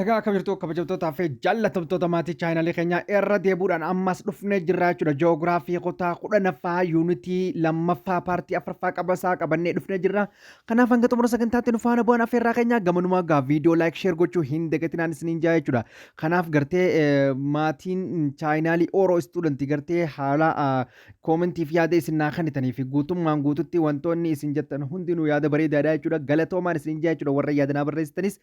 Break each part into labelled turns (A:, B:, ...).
A: Egaa akka jirtu kabajamtootaa fi jaallatamtoota maatii chaayinalii keenyaa irra deebuudhaan ammas dhufnee jirraa jechuudha. Joogiraafii kutaa kudhanaffaa yuunitii lammaffaa paartii afraffaa qabasaa qabannee dhufnee jirra. Kanaaf hanga xumura sagantaatti nu faana bu'aan affeerraa keenyaa gamanumaa gaa viidiyoo laayik sheer gochuu hin dagatinaan isiniin jaa jechuudha. Kanaaf gartee maatiin chaayinaalii Oro istuudantii gartee haala Koomentiif yaada isin naa kennitanii fi guutummaan guututti wantoonni isin jettan hundinuu yaada bareedaadha jechuudha. Galatoomaan isin jaa jechuudha warra yaada naa barreessitanis.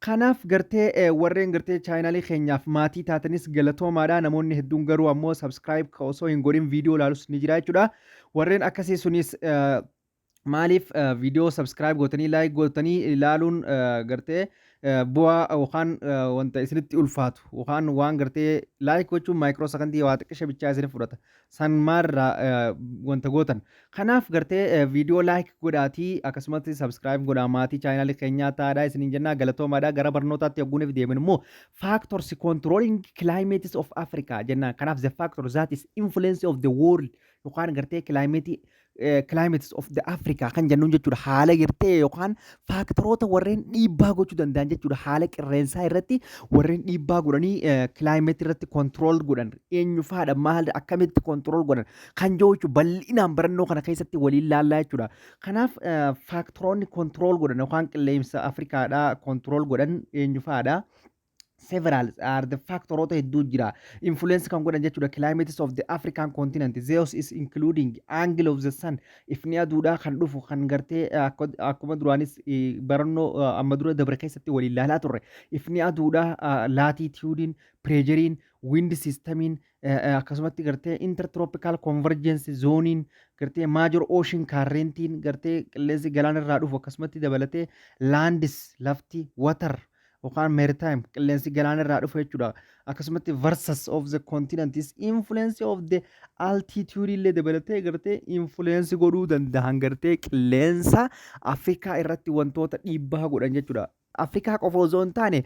A: Kanaaf gartee eh, warreen gartee chaayinaalii keenyaaf maatii taatanis galatoomaadha. Namoonni hedduun garuu ammoo subscribe ka osoo hin godhin viidiyoo ilaalus ni jira jechuudha. Warreen akkasii sunis eh, maaliif viidiyoo subscribe gootanii like gootanii ilaaluun gartee bu'aa yookaan wanta isinitti ulfaatu yookaan waan gartee like gochuun maayikiroo sakandii waa xiqqisha bichaa isinif fudhata san maalirraa wanta gootan kanaaf gartee viidiyoo like godhaatii akkasumatti subscribe godhaa maatii chaayinaalii keenyaa taa'aadha isiniin jennaa galatoomaadha gara barnootaatti yogguuniif deemin immoo factors controlling climates of Africa jennaan kanaaf the factor that is influence of the world yookaan gartee kilaayimeetii climates of the Africa kan jennuun jechuudha haala gartee yookaan faaktaroota warreen dhiibbaa gochuu danda'an jechuudha haala qilleensaa irratti warreen dhiibbaa godhanii climate irratti control godhan eenyufaadha maal akkamitti control godhan kan jiru jechuudha bal'inaan barannoo kana keessatti waliin laallaa jechuudha kanaaf faaktaroonni control godhan yookaan qilleensa Afrikaadhaa control godhan eenyufaadha. several are the factoroota hedduu jira influence kan godhan jechuudha climates of the african continent zeus is including angle of the sun ifni aduudhaa kan dhufu kan gartee eh, akko- akkuma duraanis eh, barannoo eh, amma dura dabre keessatti waliin ilaalaa turre ifni aduudhaa eh, laatitiyuudiin pireejeriin wind siistamiin akkasumatti gartee intertropical convergence zooniin gartee major ocean currentiin gartee qilleensi galaanarraa dhufu akkasumatti dabalatee landis lafti water yookaan maritime qilleensi galaana irraa dhufu jechuudha. Akkasumatti versus of the continents influence of the altitude illee dabalatee gartee influence godhuu danda'an gartee qilleensa Afrikaa irratti wantoota dhiibbaa godhan jechuudha. Afrikaa qofa osoo hin taane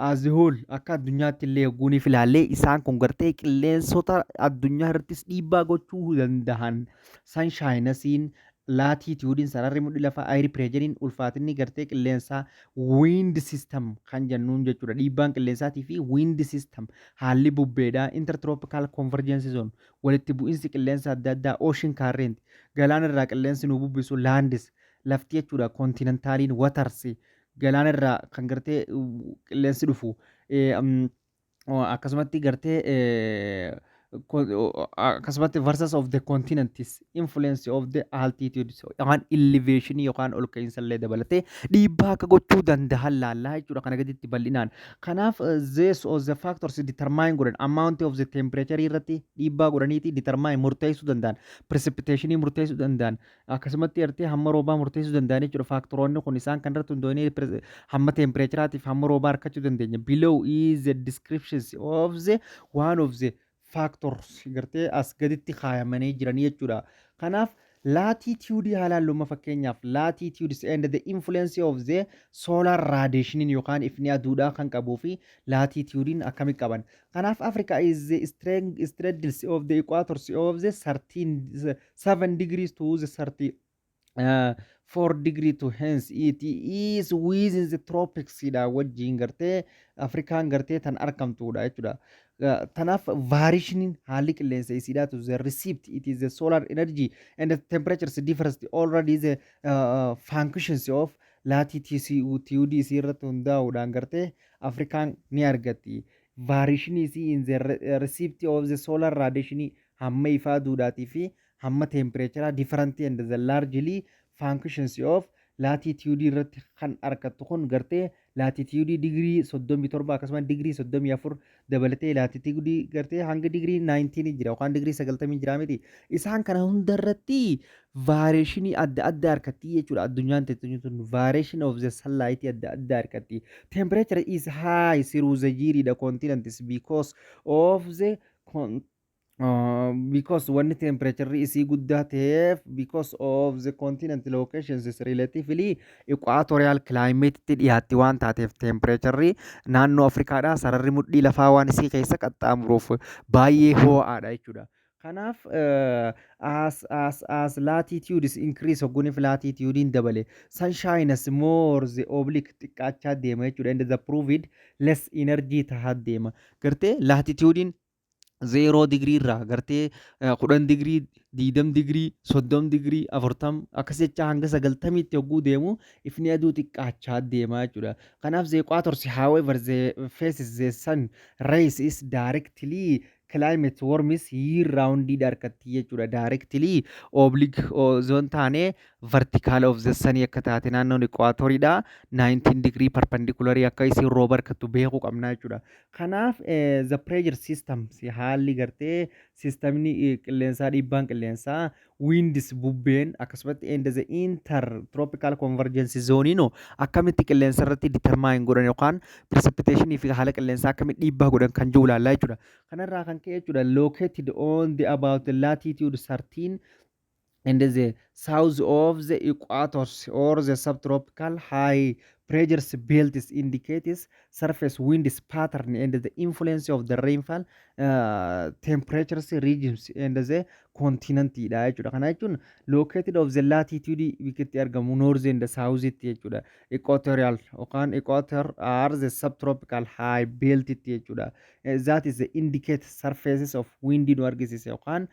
A: azihool akka addunyaatti illee guuniif ilaallee isaan kun gartee qilleensota addunyaa irrattis dhiibbaa gochuu danda'an sanshaayinasiin Laatiitiyuudiin sararri mudhi lafaa air pireejeriin ulfaatinni gartee qilleensaa wind system kan jennuun jechuudha. Dhiibbaan qilleensaatii fi wind system haalli bubbeedhaa intertropical convergence zone walitti bu'insi qilleensa adda addaa ocean current galaana irraa qilleensi nu bubbisu lands lafti jechuudha continentaliin waters galaana irraa kan gartee qilleensi dhufu eh, mm, akkasumatti gartee akkasumatti versus of the continents influence of the altitudes yookaan elevation yookaan ol ka'iinsa illee dabalatee dhiibbaa akka gochuu danda'an laallaa jechuudha kana gaditti bal'inaan. Kanaaf zees of the factors determine godhan amount of the temperature irratti dhiibbaa godhaniiti determine murteessuu danda'an precipitation murteessuu danda'an Akkasumatti ertee hamma roobaa murteessuu danda'an jechuudha. Faaktoroonni kun isaan kan irratti hundoonee hamma teempireechiraatiif hamma roobaa harkachuu dandeenya. Below is the descriptions of the one of the factors gartee as gaditti kaayamanii jiran jechuudha. Kanaaf laatitiyuudii haalaan luma fakkeenyaaf laatitiyuudis and the influence of the solar radiation yookaan ifni aduudhaa kan qabuu fi laatitiyuudiin akkami qaban. Kanaaf Africa is the straddles of the equators of the 13 7 degrees to the 30 uh, 4 degree to hence it is within the tropics dha wajjiin gartee afrikaan gartee tan argamtuudha jechuudha Uh, tanaaf vaarishiniin haalli qilleensa isiidhaa to the receipt it is the solar energy and the temperatures differs already the uh, uh, functions of latitude isii irratti hundaa'uudhaan gartee afrikaan ni argatti vaarishinii isii in the re- receipt of the solar radiation hamma ifaa duudhaatii fi hamma teempireecharaa different and the largely functions of laatitiyuudii irratti kan arkattu kun gartee laatitiyuudii digirii 37 akkasumas digirii 34 dabalatee laatitiyuudii gartee hanga digirii 19 jira yookaan digirii 90 jira miti isaan kana hunda irratti vaareeshinii adda addaa arkatti jechuudha addunyaan teessumni sun vaareeshin of the sunlight adda addaa arkatti temperature is high through the jiridha continents because of the con- Uh, because wanni temperature isii guddaa ta'eef because of the continent locations is relatively equatorial climate tti dhiyaatti waan taateef temperature naannoo Afrikaadhaa sararri mudhii lafaa waan isii keessa qaxxaamuruuf baay'ee hoo'aadha jechuudha. Kanaaf uh, as, as, as latitudes increase hogguniif latitudein dabale sun shines more the oblique xiqqaachaa deema jechuudha and the proved less energy tahaa deema. Gartee latitudein zeeroo digirii irraa gartee eh, kudhan digirii diidam digirii soddom digirii afurtam akkas jechaa hanga sagaltamiitti yogguu deemu ifni aduu xiqqaachaa deemaa jechuudha. Kanaaf the equator however the faces the sun rays is directly climate warms year round dha harkatti jechuudha. Directly oblique osoo hin taane vertical of the sun akka taate naannoon equator dha. 19 degree perpendicular akka isin rooba harkattu beekuu qabna jechuudha. Kanaaf the pressure systems haalli gartee sistamni qilleensaa dhiibbaan qilleensaa winds bubbeen akkasumatti and the inter tropical convergence zone no akkamitti qilleensa irratti determine godhan yookaan precipitation fi haala qilleensaa akkamitti dhiibbaa godhan kan jiru ilaallaa jechuudha. Kanarraa kan ka'e jechuudha located on the about latitude 13 and the south of the equators or the subtropical high pressures belts indicates surface winds pattern and the influence of the rainfall uh, temperatures regions and the continent dha jechuudha kana jechuun located of the latitude bikkitti argamu north and the south itti jechuudha equatorial yookaan equator are the subtropical high belt itti jechuudha Eh, that is the indicate surfaces of wind nu argisiisa yookaan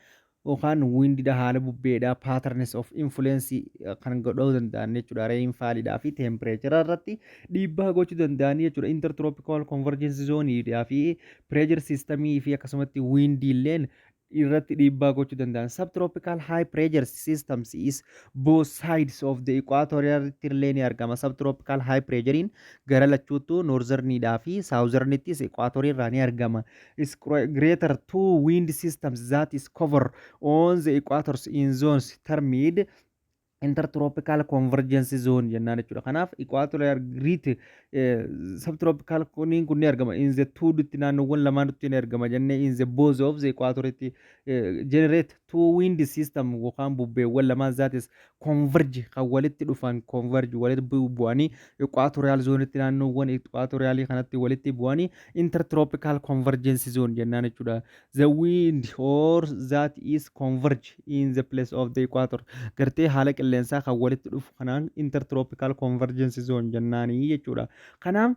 A: yookaan wind dha haala bubbee dha patterns of influence kan godhuu danda'an jechuudha rainfall dhaa fi temperature irratti dhiibbaa gochuu danda'an jechuudha intertropical convergence zone dhaa fi pressure system fi akkasumatti wind illeen irratti dhiibbaa gochuu danda'an subtropical high pressure systems is both sides of the equator irratti illee ni argama subtropical high pressurein gara lachuuttu northern dhaa fi southern ittis equator irraa ni argama is cre- greater two wind systems that is cover on the equators in zones termed intertropical convergence zone jennaan jechuudha. Kanaaf equatorial grid eh, subtropical kunniin kun ni argama in the two dutti naannoowwan lamaanutti ni argama jennee in the both of the equatoritti eh, generate two wind system yookaan bubbeewwan lamaan that is converge kan walitti dhufan converge walitti bu- bu'anii equatorial zoonitti naannoowwan equatorialii kanatti walitti bu'anii intertropical convergence zone jennaan jechuudha the wind or that is converge in the place of the equator gartee haala qilleensaa kan walitti dhufu kanaan intertropical convergence zone jennaanii jechuudha kanaaf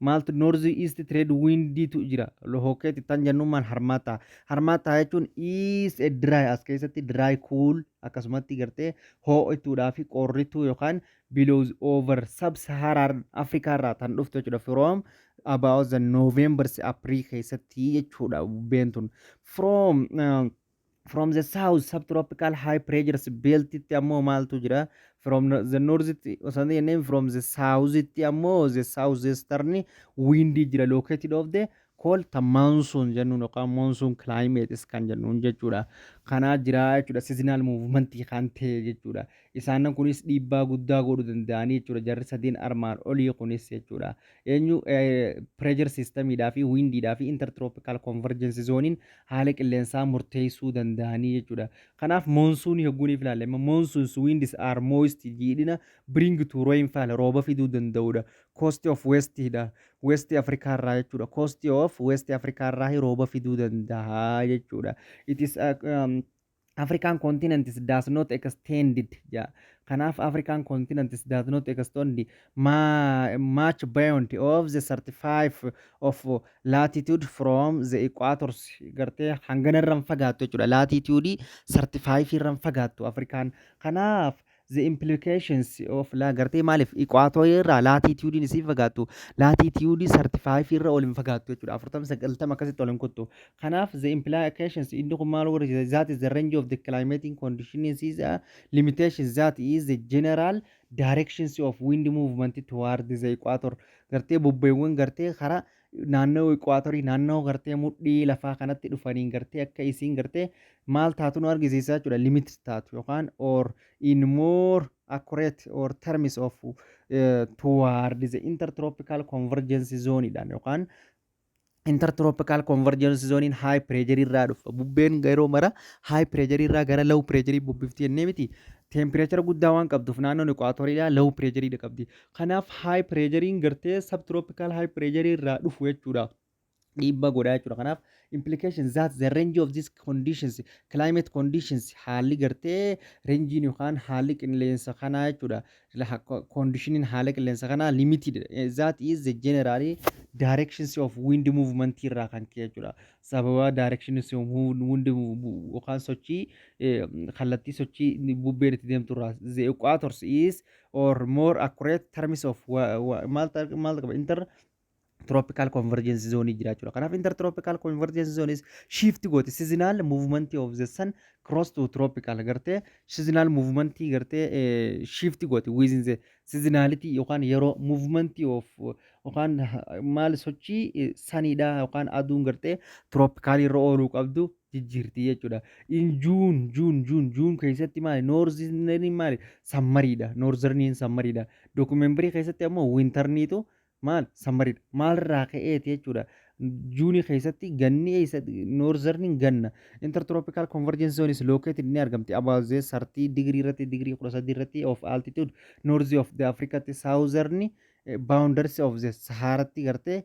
A: Maaltu North East Trade Windiitu jira. Lohokeeti tan jennummaan harmaataa. Harmaataa jechuun is a dry as keessatti dry cool akkasumatti gartee hoo'ituudhaa fi qorrituu yookaan billows over sub-Saharan Africa irraa tan dhuftu jechuudha from about the November April keessatti jechuudha bubbeen tun from uh, from the south subtropical high pressures belt itti ammoo maaltu jira from no- the north itti osoo hin jenneen from the south itti ammoo the south eastern wind jira located of the cold ta monsoon jennuun yookaan monsoon climates kan jennuun jechuudha kanaa jira jechuudha seasonal movement kan ta'e jechuudha Isaanan kunis dhiibbaa guddaa godhu danda'anii jechuudha. Jarri sadeen armaan olii kunis jechuudha. Eenyu pireejar siistamiidhaa fi wiindiidhaa fi intertirooppikaal konverjensi zooniin haala qilleensaa murteessuu danda'anii jechuudha. Kanaaf moonsuunii hogguuniif ilaalle amma moonsuuns wiindis aar mooyisti jiidhina biriingi tuu rooyinfaal rooba fiduu danda'udha. Koosti of weestiidha. Weesti Afrikaa irraa jechuudha. Koosti of weesti Afrikaa irraa rooba fiduu danda'a jechuudha. It is African continents does not extended ja. Kanaaf African continents does not extend ma much beyond of the 35 of latitude from the equators gartee hangana irra hin fagaattu jechuudha. Latitude 35 irra hin fagaattu Afrikaan. Kanaaf the implications of la gartee maaliif iqwaatooyii irraa laatiitiyuudiin isii fagaattu laatiitiyuudii sartifaayifii irra ol hin fagaattu jechuudha afurtama sagaltama akkasitti ol hin kuttu kanaaf the implications inni kun maal warra jira that is the range of the climatic conditions is a limitations that is the general directions of wind movement toward the equator gartee bubbeewwan gartee karaa naannoo iquwaatorii naannoo gartee mudhii lafaa kanatti dhufaniin gartee akka isiin gartee maal taatu nu argisiisa jechuudha limit taatu yookaan or in more accurate or terms of uh, toward the intertropical convergence zone dhaan yookaan intertropical convergence zone in high pressure irraa dhufa bubbeen yeroo mara high pressure irraa gara low pressure bubbifti jennee miti temperature guddaa waan qabduuf naannoon iquwaatorii low pressure qabdi Kanaaf high pireejariin gartee subtropical high pireejarii irraa dhufu jechuudha. Dhiibbaa godhaa jechuudha. Kanaaf implication that the range of these conditions climate conditions haalli gartee renjiin yookaan haalli qilleensa kanaa jechuudha. Conditionin haala qilleensa kanaa limited that is the generally directions of wind movement irraa kan ka'e jechuudha. Sababa directions of wind yookaan sochii kallattii sochii bubbeen itti deemtu irraa the equators is or more accurate terms of maal qaba inter tropical convergence zone jiraachudha. Kanaaf intertropical convergence zones shift gooti seasonal movement of the sun cross to tropical gartee seasonal movement gartee shift gooti within the seasonality yookaan yeroo movement of yookaan maal sochii saniidha yookaan aduun gartee tropical irra ooluu qabdu jijjiirti jechuudha. In Juun, Juun, Juun, Juun keessatti maali? Noorzerniin maali? Sammariidha. Noorzerniin sammariidha. Dookumembarii keessatti ammoo wintarniitu maal? Sammariidha. Maalirraa ka'eeti jechuudha. Juunii keessatti ganni eessa? Noorzerniin ganna. Intertropical convergence zone is located ni argamti. About the 30 degree irratti, degree 13 irratti of altitude, north of the Africa tti, southern boundaries of the Sahara tti gartee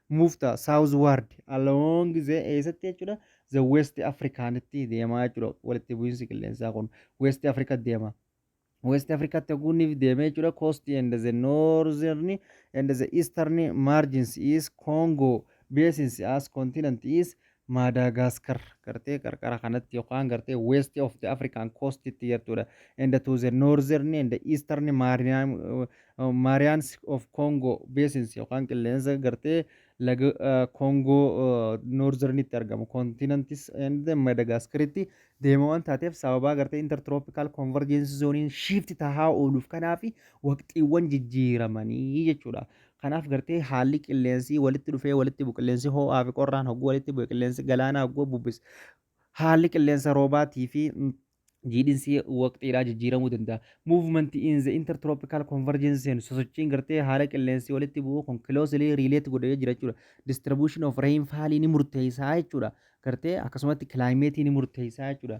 A: move ta southward along the eessatti jechuudha the west africaanitti deemaa jechuudha walitti bu'iinsi qilleensaa kun west africa deema west africa taguuniif deemee jechuudha coast and the northern and the eastern margins is congo basins as continent is Maadaagaaskar gartee qarqara kanatti yookaan gartee west of the African coast tti jirtudha. And to the northern and the eastern Marian- uh, Marians of Congo basins yookaan qilleensa gartee laga uh, Congo uh, northern tti argamu continents and the Madagascar tti deema waan taateef sababaa gartee intertropical convergence zoniin shift tahaa ooluuf kanaafi waqtiiwwan jijjiiramanii jechuudha. Kanaaf gartee haalli qilleensi walitti dhufee walitti bu'u qilleensi hoo'aa fi qorraan hogguu walitti bu'e qilleensi galaanaa hogguu bubbise haalli qilleensa roobaatii fi jiidhinsi waqtiidhaa jijjiiramuu danda'a. Movement in the intertropical convergence zone sosochiin gartee haala qilleensi walitti bu'u kun closely relate godhee jira jechuudha. Distribution of rainfall ni murteessaa jechuudha. Gartee akkasumatti climate ni murteessaa jechuudha.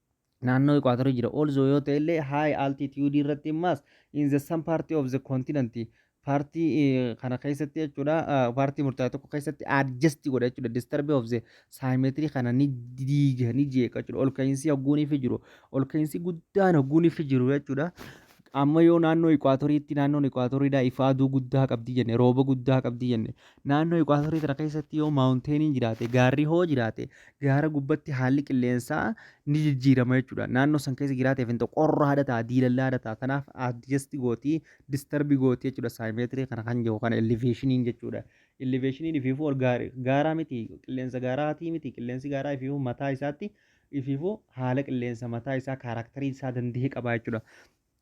A: naannoo iquwaatorii jira also yoo ta'e illee high altitude irratti immaas in the some party of the continent paartii eh, kana keessatti jechuudha ah, paartii murtaa'e tokko keessatti adjust godha jechuudha disturbe of the symmetry kana ni diiga ni jeeqa jechuudha ol ka'iinsi hogguuniifi jiru ol ka'iinsi guddaan hogguuniifi jiru jechuudha amma yoo naannoo iquwaatoriitti naannoon iquwaatoridhaa ifa aduu guddaa qabdi jenne rooba guddaa qabdi jenne Naannoo iquwaatorii tana keessatti yoo maawunteeniin jiraate, gaarri hoo jiraate, gaara gubbatti haalli qilleensaa ni jijjiirama jechuudha. Naannoo san keessa jiraateef hin ta'u qorra haadha ta'a, diilallaa haadha ta'a. Kanaaf adjasti gooti, distarbi gooti jechuudha saayimeetirii kana kan jiru kana eleveeshiniin jechuudha. Eleveeshiniin ifiifuu ol gaari- gaaraa miti, qilleensa gaaraatii miti, qilleensi gaaraa ifiifuu mataa isaatti ifiifuu haala qilleensa mataa isaa kaaraaktarii isaa danda'e qaba jechuudha.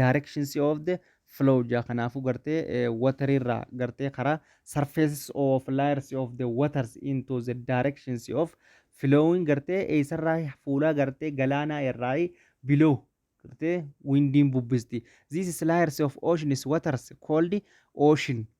A: directions of the flow jaa kanaafuu gartee water irraa gartee karaa surfaces of layers of the waters into the directions of flowing gartee eessarraa fuulaa gartee galaanaa irraa below gartee windiin bubbisti this is layers of oceans waters called ocean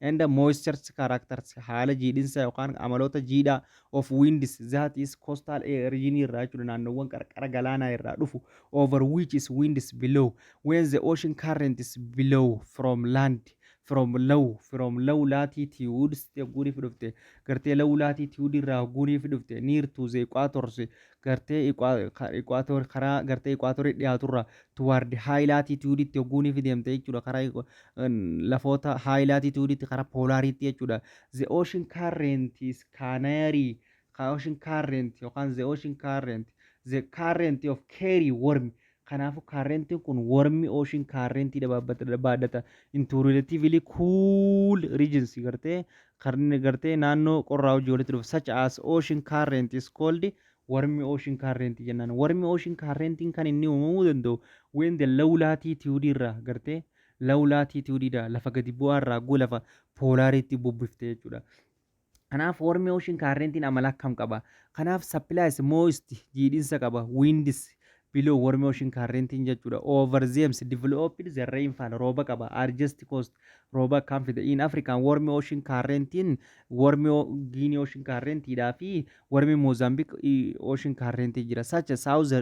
A: and moistures characters haala jiidhinsa yookaan amaloota jiidhaa of winds that is coastal air region irraa jechuudha naannoowwan qarqara galaanaa irraa dhufu over which is winds below when the ocean current is below from land from low from low latitudes yogguu ni fidufte gartee low latitude irraa yogguu ni fidufte near to the equators gartee iquwaatoor karaa gartee iquwaatoorii dhiyaaturraa tuwaardi haay laatiitiyuuditti hogguu ni fideemte jechuudha karaa lafoota haay laatiitiyuuditti karaa poolaariitti jechuudha the ocean current is canary ka ocean current yookaan the ocean current the current of carry worm Kanaafuu kaarrentiin kun wormi ooshin kaarrentii dha baadhata into relatively cool regions gartee kan gartee naannoo qorraa hojii walitti dhufa such as ocean current is called wormi ocean current jennaan wormi ocean currentiin kan inni uumamuu danda'u when the low latitude irraa gartee low latitude dha lafa gadi bu'aa irraa goo lafa poolaariitti bubbiftee jechuudha. Kanaaf warmi ocean current'n amala akkam qaba? Kanaaf supplies moist jiidhinsa qaba winds below warmi ocean current'n jechuudha. Over themes developed the rainfall rooba qaba urgest cost rooba akkaan fida in African warmi ocean current'n warmi Guinea ocean current dhaa fi warmi Mozambique ocean current jira. Such a south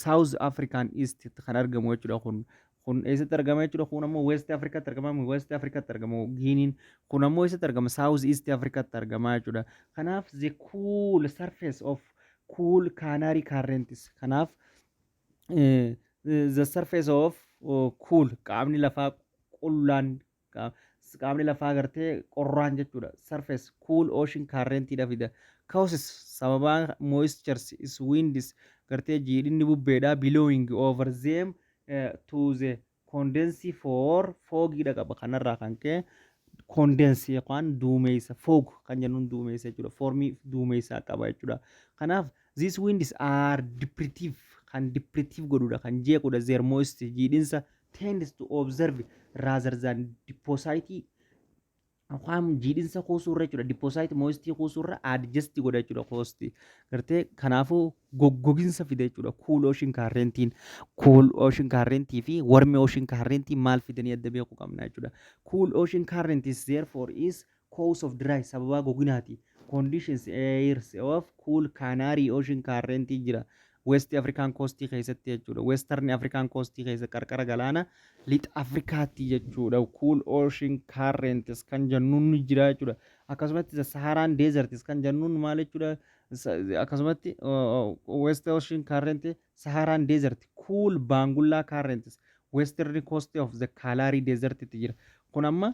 A: south African east kan argamu jechuudha kun Kun eessatti argama jechuudha. Kun ammoo West Afrikaatti argama. West Afrikaatti argama Giiniin. Kun ammoo eessatti argama? South East Afrikaatti argama jechuudha. Kanaaf the cool surface of cool Canary currents. Kanaaf the surface of cool qaamni lafaa qullaan qaamni lafaa gartee qorraan jechuudha surface cool ocean current dha fida causes sababaa moistures is winds gartee jiidhinni bubbeedha blowing over them eh, to the condense for fogii dha qaba kanarraa kan ka'e condense yookaan duumeysa fog kan jennuun duumeysa jechuudha formii duumeysaa qaba jechuudha kanaaf these winds are deprivative kan deprivative godhudha kan jeequdha their moisture jiidhinsa tends to observe rather than deposit waan jiidhinsa kuusuu irra jechuudha deposit moistii kuusuu irra adjust godha jechuudha koosti gartee kanaafuu goggoginsa fida jechuudha cool ocean currentiin cool ocean currentii fi warm ocean currentii maal fidanii adda beekuu qabna jechuudha cool ocean current is therefore is Cause of dry sababaa goginaati Conditions airs of cool Canary ocean current jira West African coast keessatti jechuudha Western African coast keessa qarqara galaana lixa Afrikaatti jechuudha cool ocean currents kan jennuun ni jira jechuudha akkasumatti the Saharan deserts kan jennuun maal jechuudha Sa- akkasumatti uh, uh, West ocean current Saharan desert cool Baangullaa currents Western coast of the Kalahari desert itti jira kun amma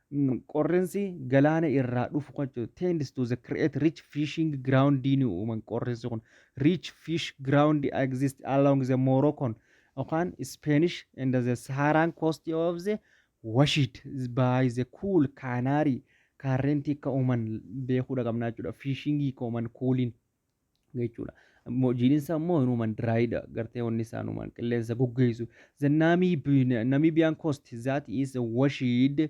A: Qorrinsi galaana irraa dhufu kan jechuudha. Tends to the create rich fishing ground ni uuman qorrinsi kun. Rich fish ground exist along the Moroccan yookaan Spanish and the Saharan coast of the washed by the cool Canary Current akka uuman beekuudha qabna jechuudha. Fishing kooman kuuliin. jechuudha. Mo- Jiiniin isaa immoo hinuman diraayidha. Gartee wanni isaa hinuman qilleensa goggeessu. The Namibi- Namibian coast that is washed uh,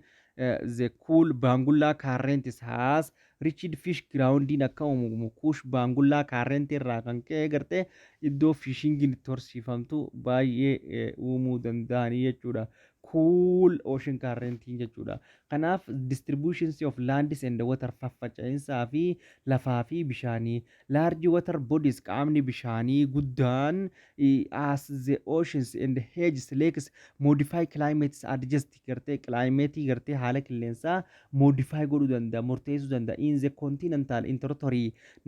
A: the cool Bangula currents has reached fish groundin akka uumamu kuush Bangula current irraa kan ka'e gartee iddoo fishingiin itti horsiifamtu baay'ee eh, uumuu danda'anii jechuudha. cool ocean currentiin jechuudha. Kanaaf distributions of lands and water faffaca'insaa fi lafaa fi bishaanii large water bodies qaamni bishaanii guddaan as the oceans and hedges lakes modify climates adjust gartee climate gartee haala qilleensaa modify godhuu danda'a murteessuu danda'a in the continental in territory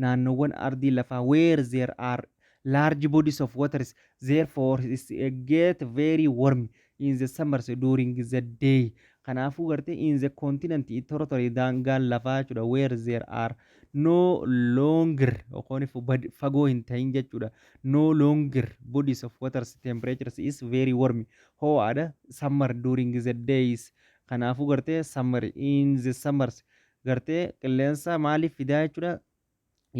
A: naannoowwan ardii lafaa where there are Large bodies of waters therefore is get very warm in the summers during the day. Kanaafuu gartee in the continent territory daangaan lafaa jechuudha where there are no longer yookaan fagoo hin ta'in jechuudha no longer bodies of waters temperatures is very warm ho'aadha summer during the days kanaafuu gartee summer in the summers gartee qilleensa maaliif fidaa jechuudha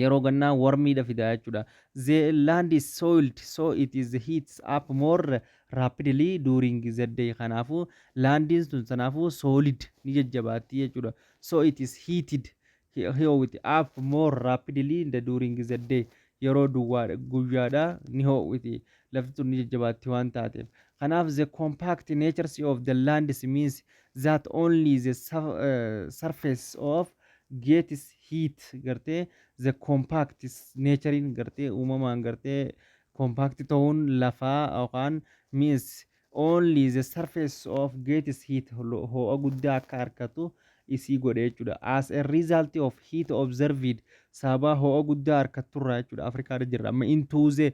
A: yeroo gannaa warmiidha fidaa jechuudha. The land is soiled so it is heats up more rapidly during the day kanaafu laandiin sun sanaafu solid ni jajjabaatti jechuudha. So it is heated ho'iti up more rapidly in the during the day yeroo duwwaa guyyaadha ni ho'iti lafti sun ni jajjabaatti waan taateef. Kanaaf the compact natures of the lands means that only the surface of Gates heat gartee the compact naturein gartee uumamaan gartee compact ta'uun lafaa yookaan means only the surface of Gates heat hoo'a guddaa akka harkatu isii godhe jechuudha. As a result of heat observed sababa hoo'a guddaa harkatturraa jechuudha Afrikaarra jirra. Amma into the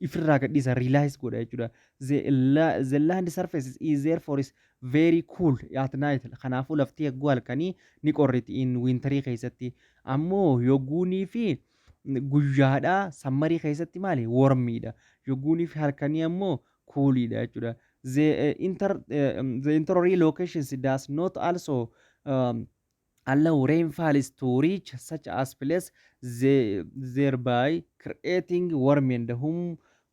A: ifirraa gadhiisa realize godha jechuudha the, la- the land surface is therefore is very cool at night kanaafuu lafti yogguu halkanii ni qorriti in winterii keessatti ammoo yogguunii fi guyyaadhaa sammarii keessatti maali wormiidha yogguunii fi halkanii ammoo kuuliidha jechuudha the, eh, inter, eh, the interior locations does not also um, allow rainfalls to reach such as place thereby creating warm and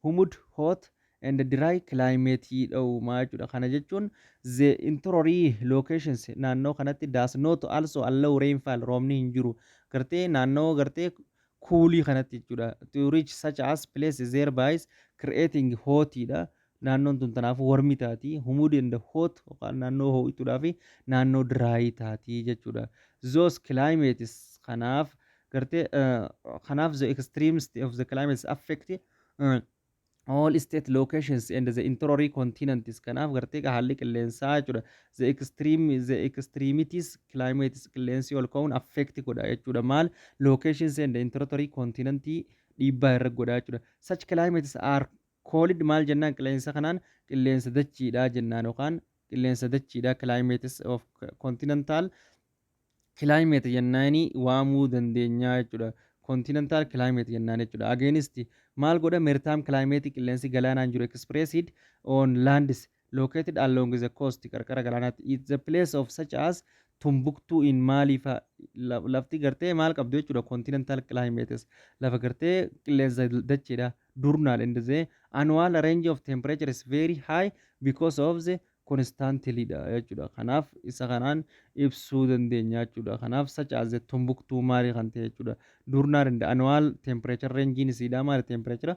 A: humid hot and dry climate dhoowwuma jechuudha. Kana jechuun the interior locations naannoo kanatti does not also allow rainfall roobni hin jiru gartee naannoo gartee kuulii kanatti jechuudha to reach such as place thereby creating hot dha Naannoon tun tanaafuu warmi taati, humid and hot yookaan naannoo hoo'ituudhaa fi naannoo dry taati jechuudha. Those climates kanaaf gartee uh, kanaaf the extremes of the climates affect uh, all state locations and the interior continents kanaaf gartee gaa haalli qilleensaa jechuudha the extreme the extremities climates qilleensi ol ka'uun affect godha jechuudha maal locations and interior continent dhiibbaa irra godha jechuudha such climates are Coolid maal jennaan qileensa kanaan qilleensa dachiidha jennaan yookaan qilleensa dachiidha climates of continental climate jennaani waamuu dandeenyaa jechuudha. Continental climate jennaan jechuudha. Against maal godha mertime climate qilleensi galaanaan jiru expressed on lands located along the coast qarqara galaanaatti it the place of such as tumbuktuu in maalii fa la- lafti gartee maal qabdu jechuudha continental climates lafa gartee qilleensa dacheedha durnaal and the annual range of temperature is very high because of the constantly dha jechuudha kanaaf isa kanaan ibsuu dandeenya jechuudha kanaaf such as the tumbuktuu maalii kan ta'e jechuudha durnaal and annual temperature range isiidha maali temperature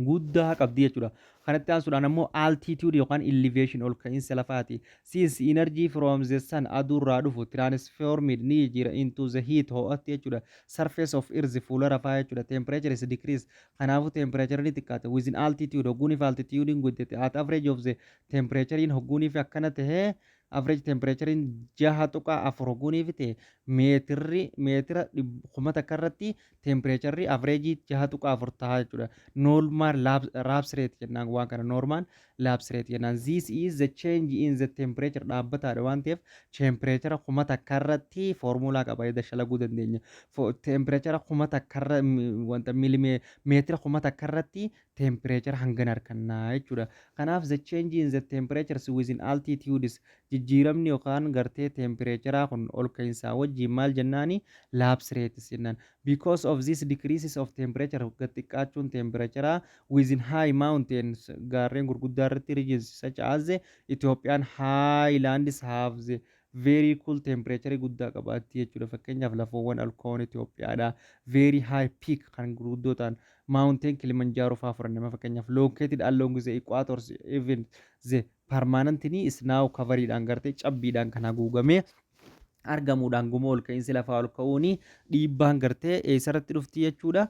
A: guddaa qabdi jechuudha. Kanatti aansuudhaan ammoo altitude yookaan elevation ol ka'iinsa lafaati. Since energy from the sun aduu irraa dhufu transformed ni jijjiira into the heat ho'atti jechuudha. Surface of earth fuula rafaa jechuudha. Temperature is decrease kanaafuu temperature ni xiqqaata. Within altitude hogguuniif altitude hin guddate at average of the temperature in hogguuniif akkana ta'ee average temperature in jaha tuqaa afur hogguuniif ta'e meetirri meetira kuma takka irratti Teempireecharri avreejii 6.4 tahaa jechuudha. Normal lapse rate jennaan waan kana normal lapse rate jennaan. This is the change in the temperature dhaabbataadha waan ta'eef teempireechara kuma takka irratti foormulaa qaba jedha shalaguu dandeenya. Teempireechara kuma takka irra wanta miilimee meetira kuma takka irratti temperature hangan arkanna jechuudha. Kanaaf the change in the temperatures within altitudes jijjiiramni yookaan gartee tempereecharaa kun ol ka'insaa wajjiin maal jennaani lapse rates jennaan. Because of this decreases of temperature gad xiqqaachuun tempereecharaa within high mountains gaarreen gurguddaa irratti regions such as the Ethiopian highlands have the Very cool temperature guddaa qabaatti jechuudha. Fakkeenyaaf lafoowwan alkoon Itoophiyaadhaa very high peak kan gurguddoo ta'an mountain Kilimanjaro fa'aa fudhanne fakkeenyaaf located along the equators even the permanently snow covered dhaan gartee cabbiidhaan kan haguugamee argamuudhaan guma ol ka'iinsi lafaa ol ka'uun dhiibbaan gartee eessarratti dhufti jechuudha.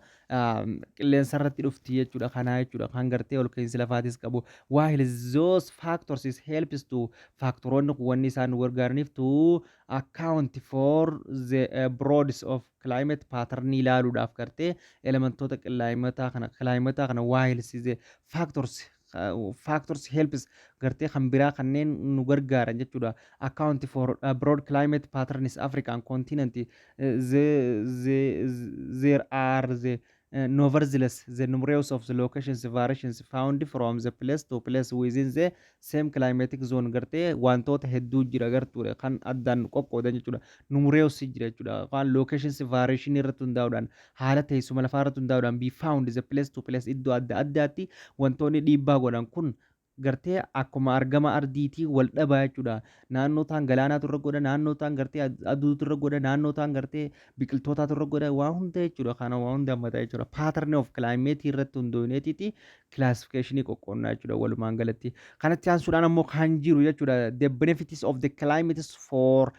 A: qilleensa irratti dhufti jechuudha kanaa jechuudha kan gartee ol ka'iinsi lafaatis qabu while those factors is helps to faaktaroonni kun wanni isaan nu gargaaraniif to account for the uh, broads of climate pattern ilaaluudhaaf gartee elementoota qillaayimataa kana kilaayimataa kana while the factors factors helps gartee kan biraa kanneen nu gargaaran jechuudha account for uh, broad climate patterns african continent uh, the, the, there are the uh, nevertheless the numerous of the locations variations found from the place to place within the same climatic zone gartee wantoota hedduu jira gartuudha kan addaan qoqqoodan jechuudha numerous jira jechuudha waan locations variation irratti hundaa'uudhaan Haala teessuma lafaa irratti hundaa'uudhaan be found the place to place iddoo adda addaatti wantoonni dhiibbaa godhan kun gartee akkuma argama ardiitii wal dhabaa jechuudha. Naannoo taan galaanaatu irra godha, naannoo taan gartee ad- aduutu irra godha, naannoo taan gartee biqiltootaatu irra godha, waa hunda jechuudha. Kana waa hunda hammata jechuudha. Pattern of climate irratti hundooyneetiiti classification qoqqoonnaa jechuudha walumaan galatti. Kanatti aansuudhaan ammoo kan jiru jechuudha the benefits of the climates for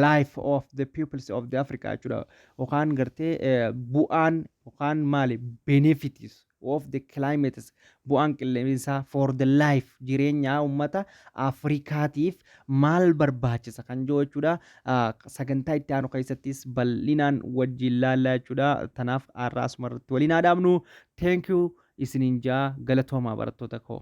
A: life of the peoples of the Africa jechuudha. yookaan gartee eh, bu'aan yookaan maali benefits of the climates bu'aan qilleensaa for the life jireenyaa uummata Afrikaatiif maal barbaachisa kan jiru jechuudha. Ah, Sagantaa itti aanu keessattis bal'inaan wajjin laallaa jechuudha. Tanaaf har'a asuma irratti waliin haa dhaabnu. Thank you isiniin jaa galatoomaa barattoota koo.